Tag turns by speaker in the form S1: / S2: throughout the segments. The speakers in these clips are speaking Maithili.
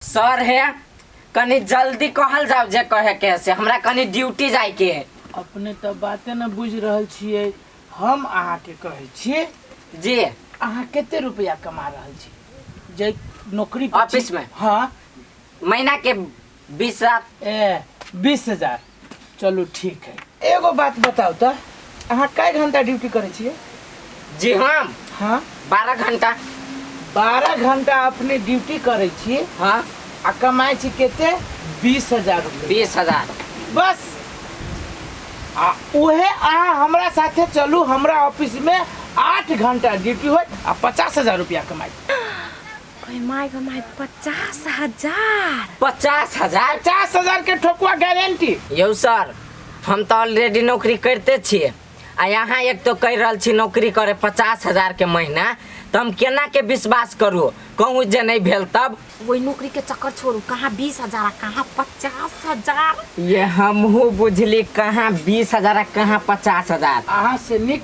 S1: सर हे कनी जल्दी कहल जाओ जे कहे के है से हमरा कनी ड्यूटी जाए के है अपने तऽ बाते
S2: न बुझि रहल छियै हम अहाँके कहै छी जी
S1: अहाँ कते
S2: रुपया कमा रहल छी जे नौकरी पर छी- ऑफिस मे? हँ महीना के
S1: बीस हजार ए
S2: बीस हजार चलू ठीक है एगो बात बताउ तऽ अहाँ कए घंटा ड्यूटी करै छियै जी हम
S1: हाँ बारह
S2: घंटा
S1: बारह
S2: घंटा अपने ड्यूटी करै छी हाँ आ
S1: कमाइ छी
S2: कते बीस हजार रुपये बीस हजार
S1: बस
S2: आ उहे अहाँ हमरा साथे चलू हमरा ऑफिस में आठ घंटा ड्यूटी होत आ पचास हजार रुपया कमाई ओए
S3: माय गो माय पचास हजार पचास
S1: हजार पचास हजार के
S2: ठोकुआ गारंटी यौ सर
S1: हम तऽ ऑलरेडी नौकरी करिते छियै आ यहाँ एक तो कहि रहल छी नौकरी करे पचास हजार के महीना तऽ हम केना के विश्वास करू कहूँ जे नहीं भेल तब वही नौकरी के चक्कर
S3: छोड़ू कहाँ बीस हजार आ कहाँ पचास हजार ये हमहू
S1: बुझली कहाँ बीस हजार आ कहाँ पचास हजार अहाँ से निक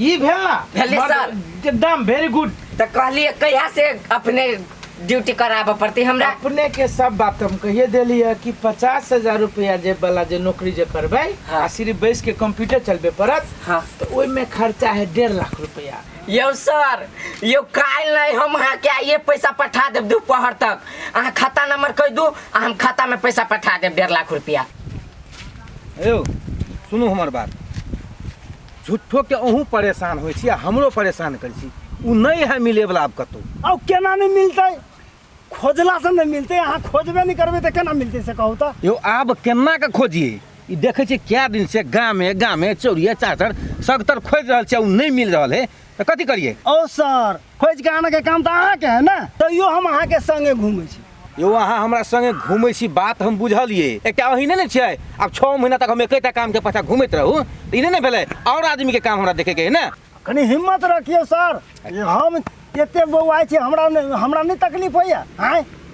S2: ई भेल ना भेलै मर्द- सर।
S1: एकदम वेरी गुड
S2: तो कहलिए कहिया
S1: से अपने ड्यूटी कराबऽ पड़ती हमरा अपने के सब बात
S2: हम कहिए देली है कि पचास हजार रुपया जे वाला जे नौकरी जे करबे हाँ। आ सिर्फ बैस के कंप्यूटर चलबे पड़त हाँ। तो ओहि में
S1: खर्चा
S2: है डेढ़ लाख रुपया यो सर
S1: यो काल्हि नहि हम अहाँके आइए पैसा पठा देब दुपहर तक अहाँ खाता नंबर कहि दू आ हम खातामे पैसा पठा देब डेढ़ लाख रुपया
S4: यौ सुनू हमर बात झूठोके अहूँ परेशान होइ छी आ हमरो परेशान करै छी ओ नहि है मिलैवला आब कतहु अब केना नहीं मिलते
S5: खोजला से नहीं मिलते अहाँ खोजबे नहीं करबे तो केना मिलते से कहू तो यौ आब केना कऽ
S4: खोजियै ई देखै छियै कए दिनसँ गामे गामे चौरिए चाचर सगतर खोजि रहल छियै ओ नहि मिल रहल है तऽ कथी करियै ओ सर
S5: खोजि कऽ आनऽके काम तऽ अहाँके है ने तैयो हम अहाँके संगे घूमै छी यौ अहाँ हमरा
S4: संगे घूमै छी बात हम बुझलियै एकटा अही नहि ने छियै आब छओ महीना तक हम एकेटा कामके पाछा घूमैत रहू तऽ ई नहि ने भेलै आओर आदमीके काम हमरा देखैके है ने कनी हिम्मत
S5: रखियौ सर हम एते बौआइ छी हमरा नहि हमरा नहि तकलीफ होइए आँय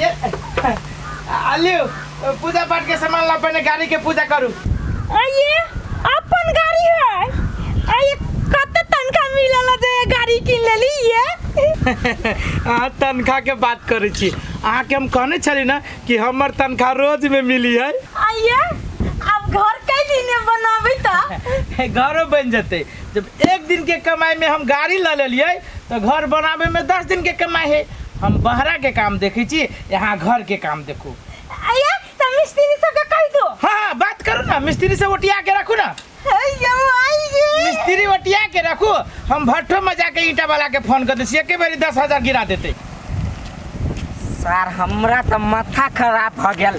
S2: ये आलियो पूजा पाठ के सामान ला पहले गाड़ी के पूजा करू अये
S3: अपन गाड़ी है अये कत तनखा मिलल जे ये गाड़ी किन लेली ये अहाँ
S2: तनख्वाह के बात करै छी अहाँके हम कहने छली ना कि हमर तनख्वाह रोज में मिली है अये
S3: अब घर कैली ने बनाबै त घरो बनि जेतै
S2: जब एक दिन के कमाई में हम गाड़ी ले लेलिए तो घर बनावे में दस दिन के कमाई है हम बहरा के काम देखे छी यहाँ घर के काम देखू अया त
S3: मिस्त्री सब के कह दो हाँ हाँ बात करू ना
S2: मिस्त्री से ओटिया के रखू ना अयो आई गे मिस्त्री ओटिया के रखू हम भट्ठो में जाके ईटा वाला के फोन कर देसी एके बेरी दस हजार गिरा देते
S1: सर हमरा त माथा खराब भ गेल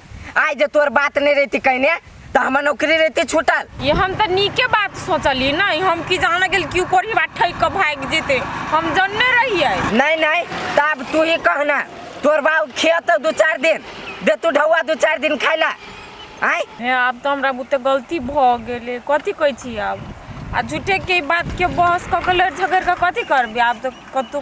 S1: आइ जे तोर बात नहीं रहती कहने तो हमार नौकरी रहती छूटल ये हम तो नीके
S6: बात सोचली ना हम की जाने गेल क्यों कोरी बात ठई के भाग जेते हम जानने रहिए नहीं नहीं
S1: तब तू ही कहना तोर बाऊ खेत दू चार दिन दे तू ढौआ दू चार दिन खाइला आय हे
S6: आब तऽ हमरा बुते गलती भऽ गेलै कथी कहै छी आब आ झूठेके ई बातके बहस कऽ कऽ लड़ि झगड़ि कऽ कथी करबै आब तऽ कतहु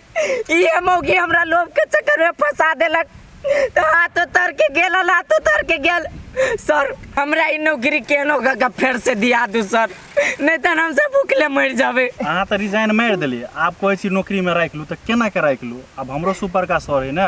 S1: इहे मौगी हमरा लोभ के चक्कर में फंसा देलक तो हाथ उतर के गेल हल, हाथ उतर के गेल सर हमरा ई नौकरी केहनो कऽ के फेर से दिया दू सर नहीं तो हम सब भूखले मर जाबे अहाँ तऽ रिजाइन मारि
S7: देलियै आब कहै छी नौकरीमे राखि लू तऽ केना के राखि लू आब हमरो सुपर का सर है ने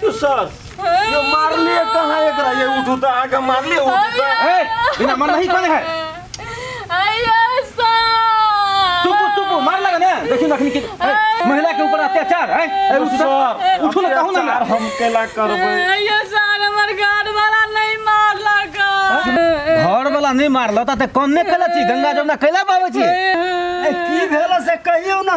S4: तू सर
S8: ये मार लिए कहाँ एक रहा ये उठू तो आके मार लिए उठू तो ए बिना मन
S4: नहीं कौन है आया
S6: सर चुप चुप मार
S4: लगा ना देखी नखनी के ए, महिला के ऊपर अत्याचार है ए, उठ सर उठो ना कहू ना अत्याचार हम केला करबे
S8: आया सर
S6: हमर घर वाला नहीं मार लगा
S4: घर वाला नहीं मारल त कौन ने कैला छी गंगा जमुना कैला बाबू छी ए, की
S5: भेल से कहियो ना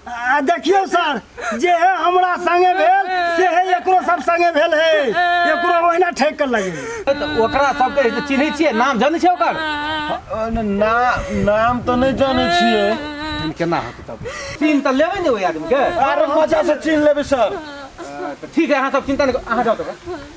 S8: आ देखियौ
S5: सर जे है हमरा संगे भेल से है एकरो सब संगे भेल है एकरो ओहिना ठेक कर लगे तऽ ओकरा सबके
S4: जे चिन्है छियै नाम जानै छियै ओकर ना नाम
S8: तो नहीं जाने छिए तहन केना होतै तब
S4: चिन्ह तऽ लेबै ने ओहि आदमीके अरे मजा से छीन
S8: लेबे सर तऽ ठीक है
S4: अहाँ सब चिन्ता नहि करू, अहाँ जाउ तऽ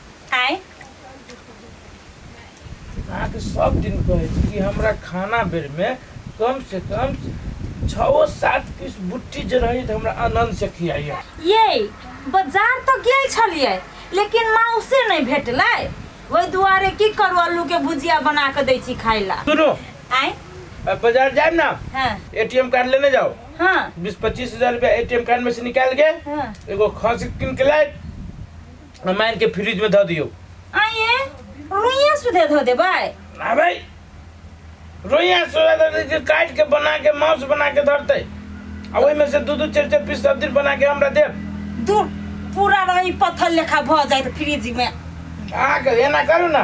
S2: आय अहाँके सब दिन कहै छी कि हमरा खाना बेरमे कम से कम छओ सात पीस बुट्टी जे रहै तऽ हमरा आनन्द से खियाइए यै
S3: बाजार तऽ गेल छलियै लेकिन माउसे नहि भेटलै ओहि दुआरे की करू आलू के भुजिया बना कऽ दै छी खाय ला सुनू आय अब बाजार जाए
S2: ना हँ एटीएम कार्ड
S3: लेने
S2: जाओ हँ बीस पच्चीस
S3: हजार रुपया
S2: एटीएम कार्ड में से निकाल के हाँ। एगो खसी
S3: कीन
S2: के लाए आ मारि के फ्रिज में धऽ दियौ आइए
S3: रोइया सुधे धो दे भाई आ भाई
S2: रोइया सोया दर्दी के काट के बना के मांस बना के धरते आ ओहि में से दू दू चार चार पीस सब्जी बना के हमरा देब दूर
S3: पूरा रही पत्थर लेखा भऽ जाए फ्रिज में अहाँके
S2: एना करू ने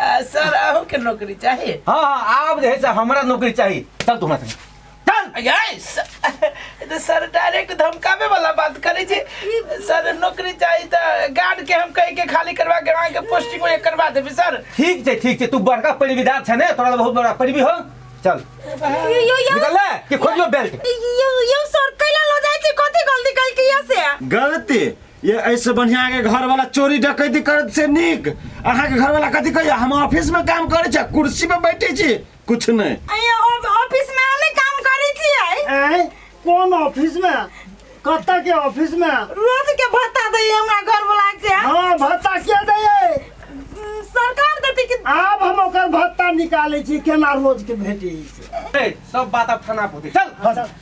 S5: आ, सर
S2: अहो के नौकरी चाही हाँ हाँ आप जे है से
S4: हमारा नौकरी चाहिए चल तू हमारे संगे चल यार स-
S2: ई तो सर डायरेक्ट धमकावे वाला बात करे छी सर नौकरी चाही त गार्ड के हम कह के खाली करवा के वहां के पोस्टिंग में करवा देबी सर ठीक छै ठीक छै तू
S4: बड़का परिविदार छै ने तोरा बहुत बड़ा परिवी हो चल यो यो
S3: यो निकल
S4: ले कि
S3: खोजियो
S4: बेल्ट
S3: यो
S4: यो सर
S3: कैला
S4: लो जाय छी
S3: कथि गलती कल किया से गलती
S8: ये ऐसे बढ़िया के घर वाला चोरी डकैती करत से नीक अहाँ के घर वाला कथी कहैया हम ऑफिस में काम करे छी कुर्सी पे बैठे छी कुछ नहीं अइया ऑफ- ऑफिस
S3: में हमे काम करै छियै आँय? कोन
S5: ऑफिस में कतऽ के ऑफिस में रोज के भत्ता
S3: दै हमरा घर वाला के हाँ भत्ता के
S5: दैयै उम, सरकार
S3: देतै कि आब हम ओकर भत्ता
S5: निकालै छी केना रोज के भेटी से ए, सब बात अब
S4: थाना पर होतै। चल